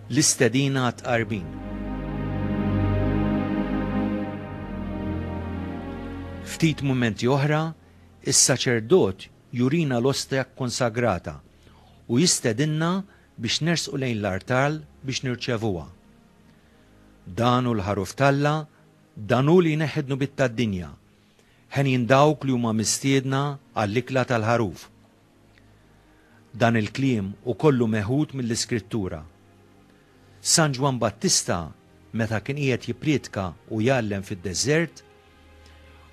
L-istedina għat-tqarbin. Ftit mumenti oħra, is-saċerdot jurina l-ostja konsagrata u jistedinna biex nersqu lejn l-artal biex nirċevuha. Dan u l-ħaruf talla Dan hu li jneħħi d-dnubiet tad-dinja. Henjin dawk li huma mistiedna għall-ikla tal-Ħaruf. Dan il-kliem hu kollu meħud mill-Iskrittura. San Ġwann Battista, meta kien qiegħed jipprietka u jgħallem fid-deżert,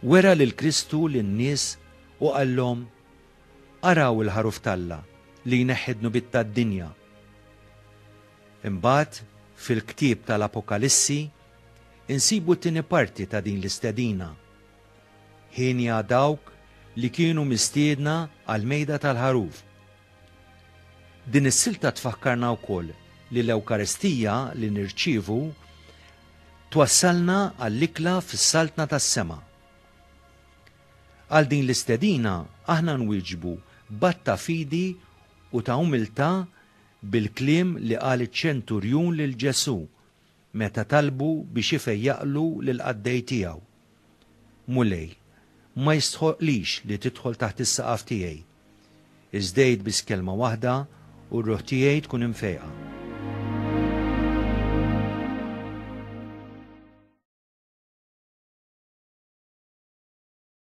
wera lil Kristu lin-nies u qallhom, Araw il-Ħaruf t'Alla li jneħħi d-dnubiet tad-dinja. Imbagħad, fil-ktieb tal-Apokalissi, insibu t-tieni parti ta' din l-istedina. Hienja dawk li kienu mistiedna għall-Mejda tal-Ħaruf. Din is-silta tfakkarna wkoll li l-Ewkaristija li nirċievu twassalna għall-ikla fis-Saltna tas-Sema. Għal din l-istedina aħna nwieġbu b'att ta' fidi u ta' umiltà bil-kliem li qal iċ-ċenturjun lil Ġesù, Meta talbu biex ifejjaqlu lill-qaddej tiegħu, Mulej, ma jistħoqqlix li tidħol taħt is-saqaf tiegħi. Iżd għid biss kelma waħda u r-ruħ tiegħi tkun imfejqa.